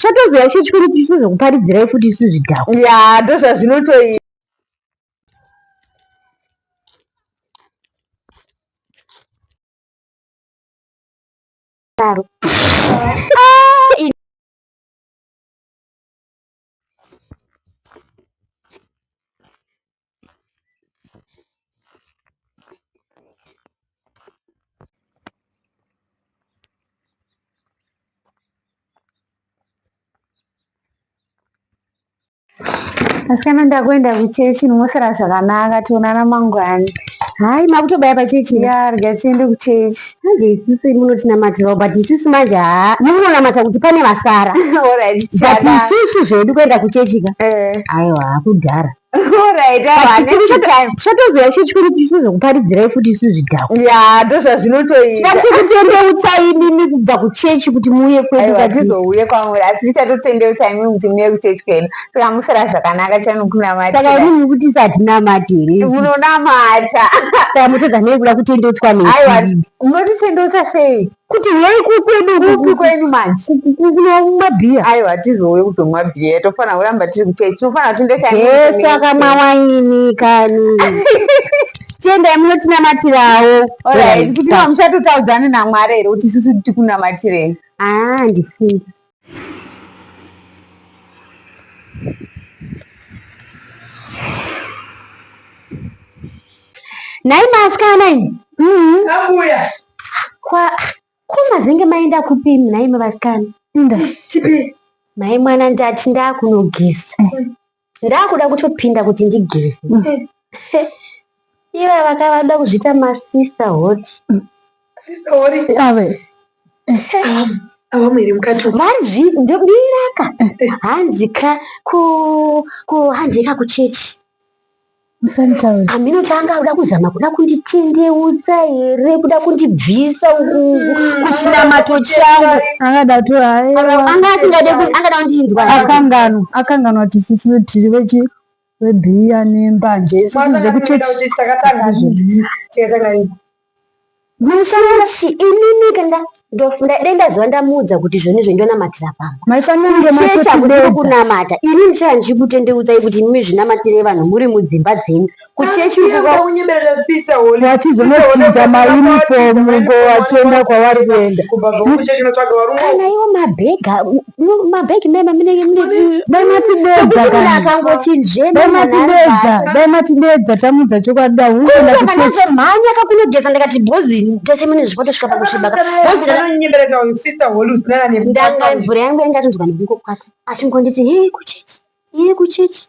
Chatozoya icho chikuru kuti chizokuparidzirai futi isu zvidhakwa. Ya, ndozvazvinotoita. Claro. asikana ndakuenda kuchechi ndinosara zvakanaka tionana mangwana Hai makutobaya pachechi. Ya rega tiende kuchechi. Manje isusu munotinamatirao but isusu manje haa mukunonamata kuti pane vasara. Alright. But isusu zvedu kuenda kuchechi ka. Eh. Ayo hakudhara. Alright. Chatozoya kuchechi kwedu tisizokuparidzirai futi isusu zvidhakwa. Ya ndozvazvinotoita. Tatotendeutsai imimi kubva kuchechi kuti muuye kwedu. Ayo hatizouye kwamuri asi tichatotendeutsai imimi kuti muuye kuchechi kwedu. saka musara zvakanaka chani kunamata saka imi muri kuti satinamati here munonamata saka motodza nei kuda kutendotswa neiwa munotitendotsa sei kuti yei kukwedu kupi kwenyu manje kunomwa bhiya aiwa tizouye kuzomwa bhiya tofanira kuramba tiri kuchei tinofanira kuti ndechaesu akamwa waini kani tiendai munotinamatirawo orit kuti mamuchatotaudzani namwari here kuti isusu tikunamatirei aa ah, ndifungi Nhai maasikana imi. Mm-hmm. Abuya. Kwa ko mazenge maenda kupi imi nhai mavasikana? Inda. Tipi. Mai mwana ndati ndakunogeza. ndakuda kutopinda kuti ndigeze iva vakavada kuzviita masista hoti vanzviraka hanzika kuhanzika kuchechi Musanditaure. Hameno chaanga akuda kuzama kuda kunditendeutsa here kuda kundibvisa uku kuchinamato changu. Angada kuti aewa. Anga asingade ku- angada kundinzwa. Akanganwa, akanganwa kuti sisi tiri vechi vebhiya nembanje. Isusu zvekuchechi. Takatanga tikatangaini. Munoshanda shi inini kanda ndofunda dai ndazova ndamuudza kuti izvoni izvo ndonamatira pamba. Maifanira kunge Ishe chakuda matotibeda. kukunamata ini ndichava ndichikutendeudzai kuti imi zvinamatirei vanhu muri mudzimba dzenyu kuchechi uko kwa- kunyeberera sister holy Vachizonochinja mauniform ngo vachienda kwavari kuenda. kubva zvokuchechi unotsvaga varungu kana iwo mabhega mabhegi mema munenge munedai matideedza akangotinzvema matideedza dai matideedza tamudza chokwadi da hunenda kuchechi mhanya kakunogeza ndikati bhozi tese mune zvipoto svika pakusviba ndanga mvura yangu yangatinzwa nekungokwata achingonditi hee kuchechi hee kuchechi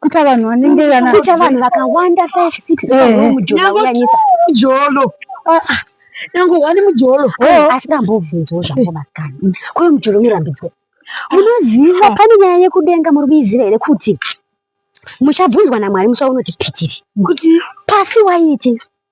kuita vanhu vanenge vana kuita vanhu vakawanda 5 6 eh, eh. mujolo uyanyisa mujolo ah, ah. nangu wani mujolo oh. asi ndambobvunzwa zvangu maskani mm. kuyo mujolo mirambidzwe ah. munoziva pane nyaya yekudenga muri kuiziva here kuti muchabvunzwa namwari musa unoti pitiri kuti pasi waiti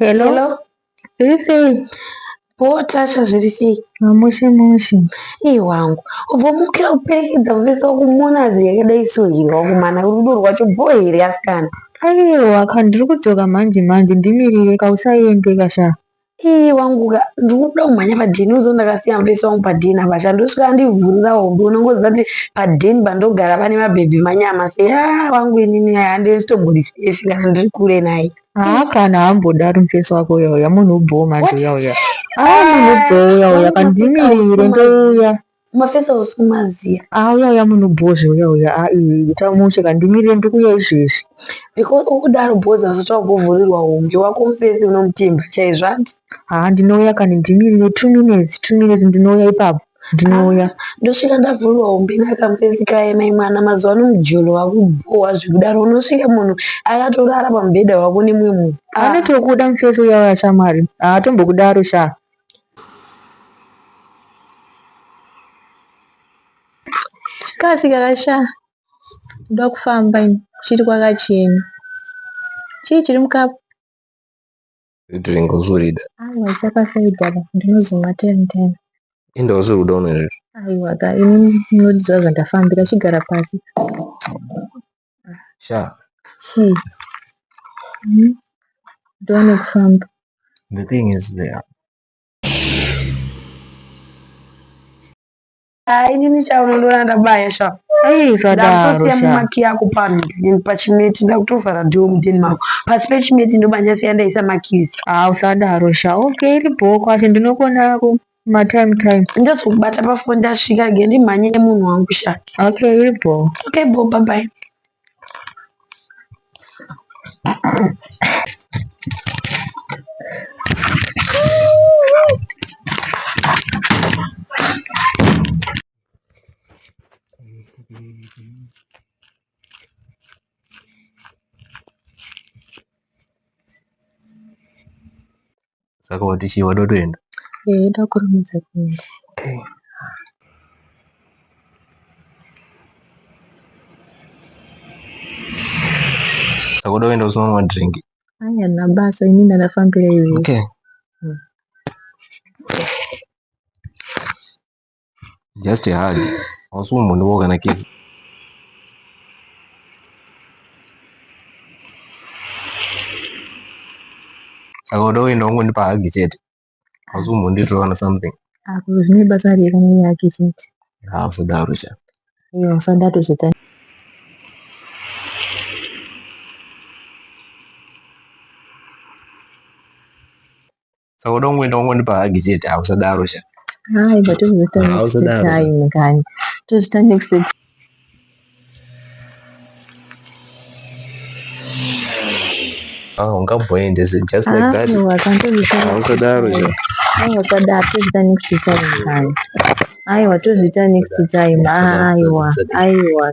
Hello. Hello. Zviri sei? Ko Tasha zviri sei? Mamushe mushe. Iye wangu. Ubva mukira kuperekedza kuvesa wakumona zii yakadai so here wakumana rudo rwacho bho here asikana? Aiwa ka ndiri kudzoka manje manje ndimirire ka usaende ka sha. Ii wangu ka ndikuda kumhanya padhini uzo ndakasiya mufesi wangu padhini apa sha ndosvika andivhurira hombe unongoziva kuti padhini pandogara pane mabhebhi manyama se yaa wangu inini aya handisitombori sefi kana ndiri kure naye haa kana hambodaro mufesi wako uya uya munhu ubhowo manje uya uya haa munhu ubhowo uya uya kandimirire ndouya Mafesa hausi kumaziva. Haa uya uya munhu bhozho uya uya haa iwe ita mushe ka ndimirire ndiri kuuya izvezvi. Because ukudaro bhozho hazvati wagovhurirwa hombe wako mufesi unomutemba chaizvo hanti. Haa ndinouya kani ndimirire two minutes two minutes ndinouya ipapo ndinouya. Ndosvika ndavhurirwa hombe naka mufesi kaye mai mwana mazuva ano mujolo wakubhohwa zvekudaro unosvika munhu akatorara pamubhedha wako nemumwe munhu. Anotokuda mufesi uya uya shamwari haatombokudaro shaa. Kasi kakasha ndoda kufamba ini chiri kwakachena. Chii chiri mukapu? Drink uzorida. Aiwa saka saida apa ndinozomwa ten ten. Enda usiri kuda unozvizvo. Aiwa ka ini ndinodidzwa zvandafambira chigara pasi. sha chi hmm? ndione kufamba the thing is there ah, inini sha unondiona ndabaya sha ndakutosiyamumakiyi ako pano then pachimeti ndakutovhara dho mudeni mako pasi pechimeti ndobanyasiya ndaisa makisi ah usadaro sha okay iri bhoo kwacho ndinokonako Ma time time. Ndodzi kubata pa phone ndasvika ge ndimhanye nemunhu wangu sha. Okay iri bho. Okay bho bye bye. saka wati chii wada kutoenda eh ida kurumidza kuenda okay saka uda kuenda usina kunwa drink aya na basa ini ndafambira iwe okay mm. just a hug hausi kumbondivawo kana kisi saka uda kuenda wangondipa hagi chete hausi kumbonditorana something apo ah, zvine basa rei kana yake chete hausadaro cha iye usadaro zvita saka uda kungoenda kungondipa hagi chete hausadaro sha hai but tozoita next time kani tozoita next time Ah, ungamboende just like ah, that. Hausadaro sha. Aiwa sadaro tozoita next time kani. Aiwa tozoita next time. Aiwa aiwa.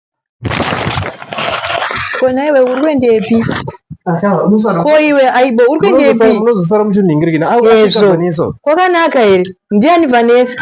Ko nhaiwe uri kuendepi? Ko iwe aibo uri kuendepi? Unozosara muchinhingirikina. Ezvo. Kwakanaka here? Ndiani Vanessa?